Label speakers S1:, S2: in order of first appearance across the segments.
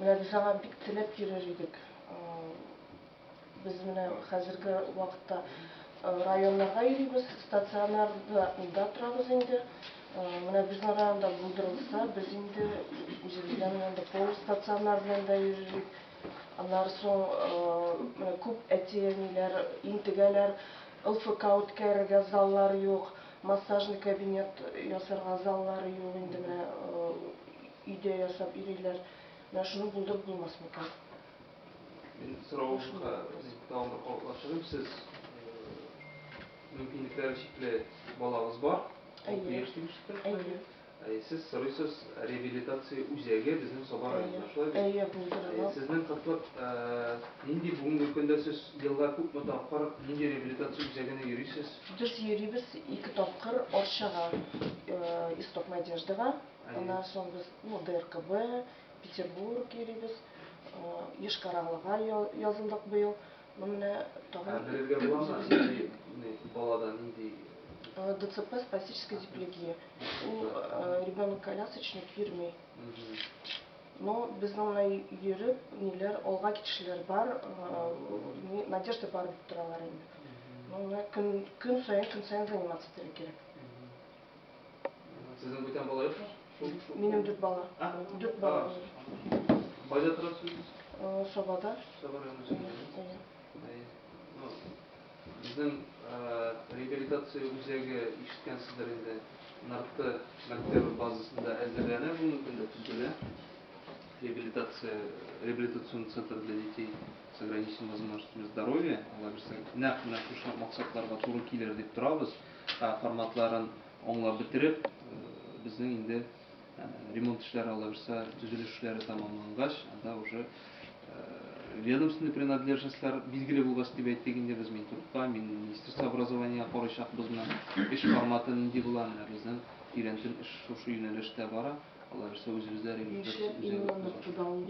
S1: Менә без аңа бик теләп йөрер идек. Без менә хәзерге вакытта районнарга йөрибез, стационарда торабыз инде. Менә безнең районда булдырылса, без инде үзебездә менә анда полустационар белән дә йөрер идек. Аннары соң күп әти-әниләр интегәләр, ЛФК үткәрергә заллар юк, массажный кабинет ясарга заллары юк инде менә. Өйдә ясап йөриләр. Менә шуны булдырып булмас микән? Мин соравымны
S2: тагын бер кабатлап чыгыйм. Сез мөмкинлекләре чикле балагыз бар. Алты яшь дип ишеттем. Әйе. Әйе, сез сорыйсыз реабилитация үзәге безнең Саба районында, шулай бит? Әйе, булдырырга. Сезнең кытлык нинди бүгенге көндә сез елга күпме тапкыр нинди реабилитация үзәгенә йөрисез? Без йөрибез
S1: ике тапкыр Арчага, Исток Надеждага. Аннан соң без ДРКБ, Петербург йөрибез. Йошкар-Олага язылдык быел. Ну менә тагын. Белергә буламы, нинди балада
S2: нинди? ДЦП,
S1: спастическая диплегия. Ул ребенок колясочник йөрми. Но безнең менә йөреп, ниләр алга китүчеләр бар, надежда бар дип торалар инде. Ну менә көн саен, көн саен заниматься итәргә кирәк.
S2: Сезнең бүтән бала юкмы? Минем дүрт
S1: бала. А? Дүрт бала. Кайда
S2: торасыз? Сабада.
S1: Саба районында.
S2: Безнең реабилитация үзәге ишеткәнсездер инде. Нарты мәктәбе базасында әзерләнә бу мөмкинле төзелә. Реабилитация, реабилитационный центр для детей с ограниченными возможностями здоровья. Алар берсе нәкъ менә шушы максатларга туры килер дип торабыз. форматларын аңлап бетереп, безнең инде ремонт эшләре алла бирса, төзелеш эшләре тәмамлангач, анда уже ведомственный принадлежностьлар билгеле булгач дип әйттек инде без Минтрудка, Министерство образования карыйчакбыз менә эш форматы нинди була, менә безнең тирәнтен эш шушы юнәлештә бара. Алар исә үзебездә ремонтлар үзәге. Ничек ныртыда ул?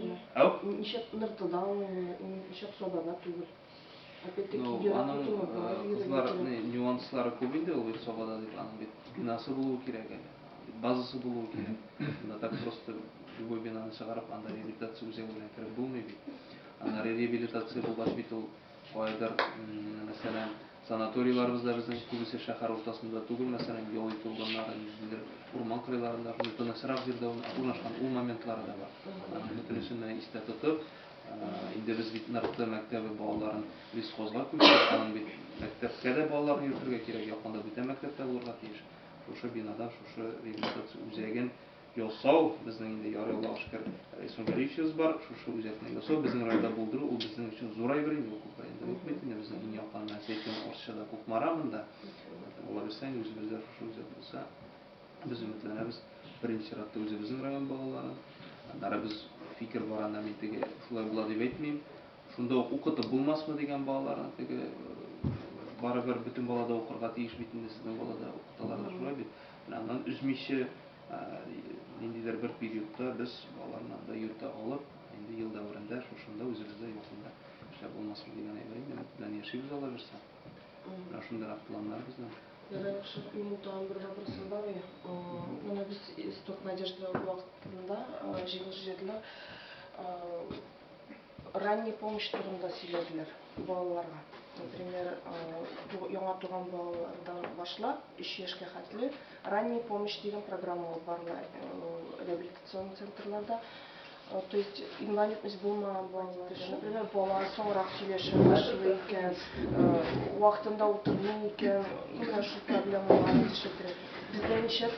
S2: Ничек ныртыда ул? Ничек сабада түгел? Ну, аның кызлар нюанслары күп инде ул Вирсобада дип, аның бит бинасы булуы кирәк әле, базасы булуы кирәк. Анда так просто любой бинаны чыгарып, анда реабилитация үзәге белән кереп булмый бит. Анда реабилитация булгач бит ул кайдыр, мәсәлән, санаторийларыбыз да безнең күбесе шәһәр уртасында түгел, мәсәлән, ял итү урыннары, ниндидер урман кырыйларында, тынычрак җирдә урнашкан, ул моментлары да бар. Аның бөтенесен истә тотып, Инде без бит НРТ мәктәбе балаларын лесхозга күчердек, аның бит мәктәпкә дә балаларны йөртергә кирәк, якында бүтән мәктәп тә булырга тиеш. Шушы бинада шушы реабилитация үзәген ясау, безнең инде ярый Аллага шөкер Рәйсүн Вәлиевичебез бар, шушы үзәкне ясау, безнең районда булдыру, ул безнең өчен зур әйбер инде, ул күп районда юк бит инде, безнең иң якын Мәсәй Көн Орчада, Кукмара монда. Алла бирса, инде үзебездә шушы үзәк булса, Без өметләнәбез, беренче чиратта үзебезнең район балалары. Аннары без фикер бар анда, мин теге шулай була дип әйтмим. Шунда ук укытып булмасмы дигән балаларны теге барыбер бөтен балада укырга тиеш бит инде сезнең балада укыталар да шулай бит. Менә аннан өзмичә ниндидер бер периодта без балаларны анда йөртә алып, инде ел дәверендә шушында үзебездә якында эшләп булмасмы дигән әйбер инде. Белән яшибез алабыз. Менә шундыйрак планнар безнең. Ярый, яхшы. Минем
S1: тагын бер вопросым бар иде. Менә без Исток Надежды вакытында җиңүче җырлар ранняя помощь турында сөйләделәр балаларга. Например, яңа туган балалардан башлап 3 яшькә хәтле ранняя помощь дигән программа алып барыла реабилитацион центрларда. То есть инвалидность булмаган балалар, например, бала соңрак сөйләшә башлый икән, вакытында утырмый икән, именно шул проблемалар ишетә. Бездә ничә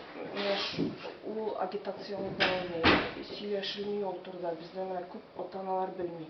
S1: ул агитация алып барылмый, сөйләшелми ул турыда, бездә күп ата-аналар белми.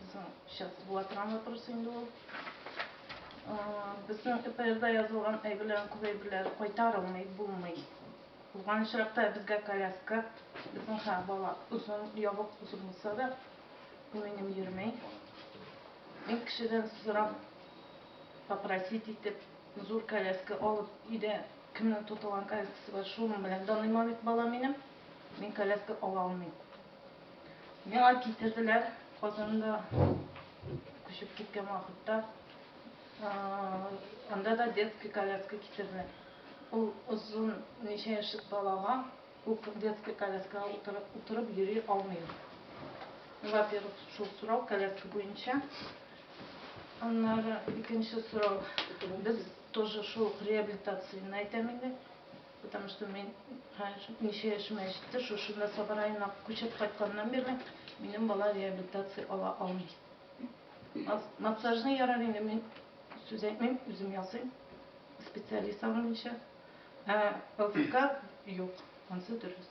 S3: Безнең сейчас була торган вопрос инде ул. Безнең ЭПРда язылган әйберләрнең күп әйберләре кайтарылмый, булмый. Булган очракта безгә коляска, безнең һәр бала озын, ябык озын булса да, минем йөрмәй. Мин кешедән сорап, попросить итеп, зур коляска алып, өйдә кемнең тотылган коляскасы бар, шуның белән даныйма бит бала минем. Мин коляска ала алмыйм. Миңа китерделәр Казанда күчеп киткән вакытта. Анда да детский коляска китерделәр. Ул озын ничә яшьлек балага күп детский коляскага утырып, утырып йөри алмый. Во-первых, шул сорау коляска буенча. Аннары икенче сорау. Без тоже шул реабилитацияне әйтәм инде. Потому что мин ничә яшемә җитте, шушында Саба районына күчеп кайтканнан бирле минем бала реабилитация ала алмый. Массажны ярар инде мин сүз әйтмим, үзем ясыйм. Специалист алмыйча. Ә ЛФК юк, ансы дөрес.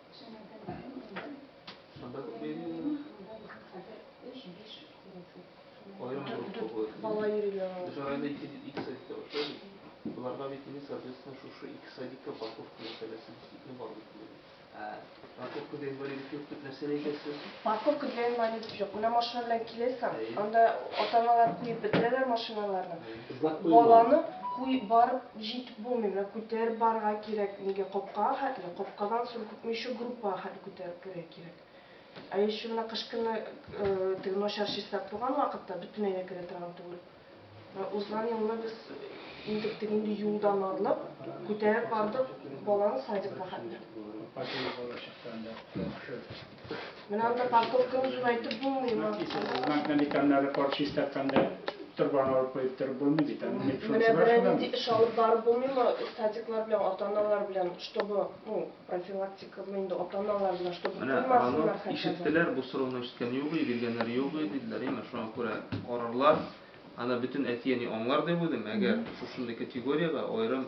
S2: Парковка для инвалидов жоқ.
S1: Мына машина белән киләсең, анда ата-аналар куеп бетерәләр машиналарны. Баланы куеп барып Җит, бу миңа күтәреп барырга кирәк, нигә капкага хәтле, капкадан соң күпмече группага хәтле күтәреп керергә кирәк. Ә ещё менә кыш көне теге начар чистарып торган вакытта бөтенләй дә керә торган түгел. Менә узган елны без интек теге инде юлдан арылып, күтәреп бардык баланы садикка хәтле. Апа, теге бала чыкканда яхшы. Менә анда парковка узуын әйтеп булмый ма? Знакны никәннәре
S4: кар чистартканда торбаны алып куеп торып булмый бит. Менә берәр нинди
S1: эш алып барып булмыймы? Садиклар белән ата-аналар белән, чтобы, ну, профилактикамы инде ата-аналар белән, чтобы куймасыннар хәтта. Ишеттеләр, бу сорауны
S2: ишеткән юк иде, биргәннәре юк иде, диделәр. Әмма шуңа күрә карарлар, аны бөтен әти-әни аңлар дип уйлыйм, әгәр шушындый категориягә аерым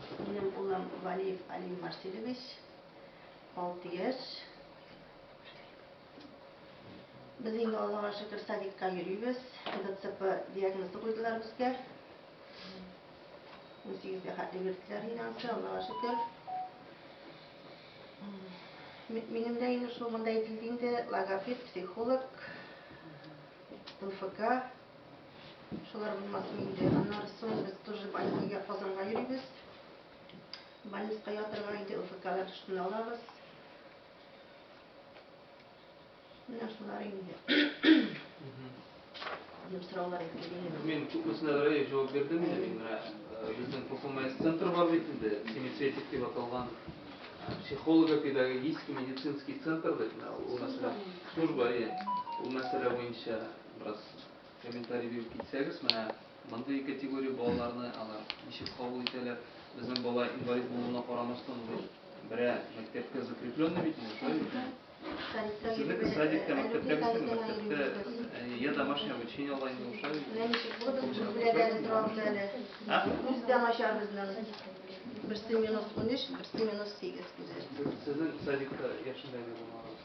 S5: Минем улым Валиев Алим Марселевич, алты яшь. Без инде Аллага шөкер садикка йөрибез. ДЦП диагнозы куйдылар безгә. 18-гә хәтле йөрттеләр инде ансы, Аллага шөкер. Минем дә инде шул монда әйтелде инде, логопед, психолог, МФК, Шулар булмасын инде. Аннары соң без тоже больницага, Казанга йөрибез. Больницага ятырга инде ОФКлар өстенә алабыз. Менә шулар инде. Минем сораулар әйтелгән. Мин
S2: күпмесенә дә җавап бирдем инде. Мин менә э, безнең ПФМС центр бар бит инде, семицветик дип аталган психолого-педагогический медицинский центр дип менә ул мәсьәлә служба, иә. Ул мәсьәлә буенча бераз Комментарий биреп китсәгез, менә мондый категория балаларны алар ничек кабул итәләр? Безнең бала инвалид булуына карамастан, берә мәктәпкә закрепленный бит инде, шулай бит? Сезнеке садикта, мәктәптә бит, мәктәптә я домашнее обучение ала инде, ошай бит? Менә ничек булды, без беләдәре торабыз
S5: әле. Күз дә начар безнең. Берсе минус 13, берсе минус 8 күзе. Сезнең садикта
S2: яшендәге булмагыз?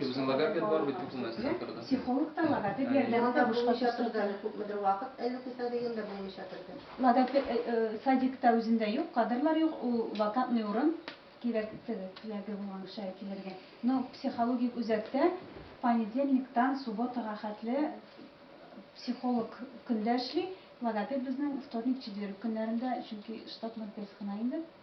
S6: Безнең логопед бар бит
S2: документ сатырда. Психолог та
S6: логопед ярдәме дә бушка чатырда. Күпмедер
S5: вакыт әле кыса дигәндә булмый
S6: чатырда. Логопед садикта үзендә юк, кадрлар юк, ул вакантный урын кирәк теләге булган кешегә килергә. Но психологик үзәктә понедельниктан субботага хәтле психолог көндә эшли, логопед безнең вторник, четверг көннәрендә, чөнки штатный персонал инде.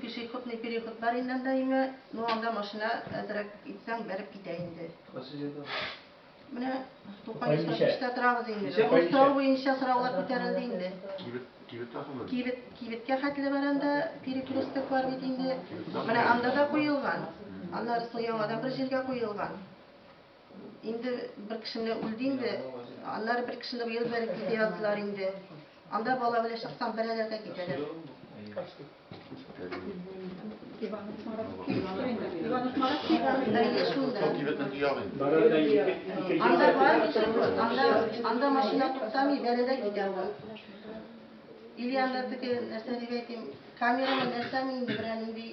S5: Пешеходный переход бар инде анда име, ну анда машина әзрәк итсәң бәреп китә инде. Кайсы җирдә? Менә Тукай Исрафиштә торабыз инде. Костау буенча сораулар күтәрелде инде. Кибет, кибет тахымы? Кибет, кибеткә хәтле бар анда, перекресток бар бит инде. Менә анда да куелган. Аннарысы яңадан бер җиргә куелган. Инде бер кешене үлде инде. Аннары бер кешене быел бәреп китә яздылар инде. Анда бала белән чыксаң, бәрәләргә китәләр. Анда бар кеше, анда, анда машина туктамый, бәрәлә китә ул. Ильянда теге нәрсә дип әйтим, камераны нәрсәме инде берәнинди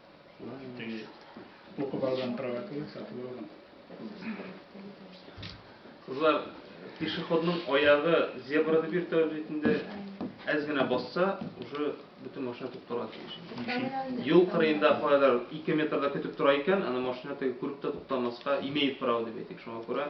S4: Укып алган правакылы сатып
S2: алган. Кызлар, пешеходның аягы зебрада бир тәүлек итендә әз генә басса, уже бөтен машина туктарга тиеш. Юл кырыенда кайдар 2 метрда көтеп тора икән, аны машина теге күреп тә туктамаска имеет право дип әйтик. Шуңа күрә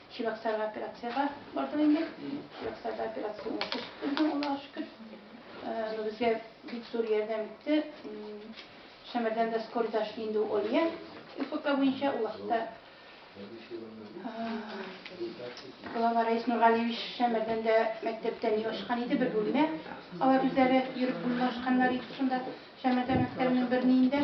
S6: Чебоксарга операциягә бардык инде. Чебоксарда операция уңышлы чыкты безнең, Аллага шөкер. Э, ну, безгә бик зур ярдәм итте. Шәмәрдән дә скорый ташли инде ул Олия. ФК буенча ул вакытта Глава Раис Нургалиевич Шәмәрдән дә мәктәптән юашкан иде, бер бүлмә. Алар үзләре йөреп бүлмә ашканнар иде шунда. Шәмәрдән мәктәбенең берниендә.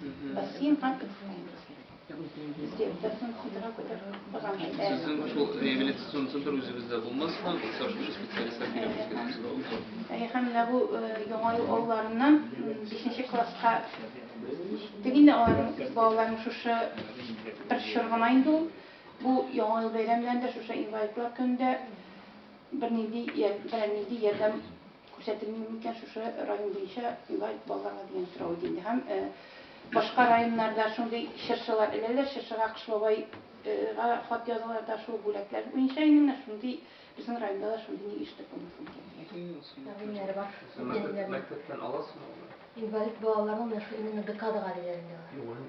S6: Сезнең
S2: шул реабилитацион центр үзебездә булмасмы? Бакса шушы специалистлар килеп үзгәртү булмы? Һәм менә бу
S6: яңа ел алларыннан 5нче класска җиттек инде аларның балаларның шушы бер чор гына инде ул. Бу яңа ел бәйрәмнәрендә шушы инвалидлар көнендә бернинди бернинди ярдәм Күрсәтелми микән шушы район буенча инвалид балаларга дигән сорау иде инде. Һәм башка районнарда шундый чыршылар эләләр, чыршыга Кыш бабайга хат язалар да шул бүләкләр буенча инде менә шундый безнең районда да шундый ник ишетеп булмасын икән дигән. Әбиннәре бар.
S2: Мәктәптән аласызмы алар? Инвалид балаларны
S5: менә шул именно ДКАДга диләр инде алар.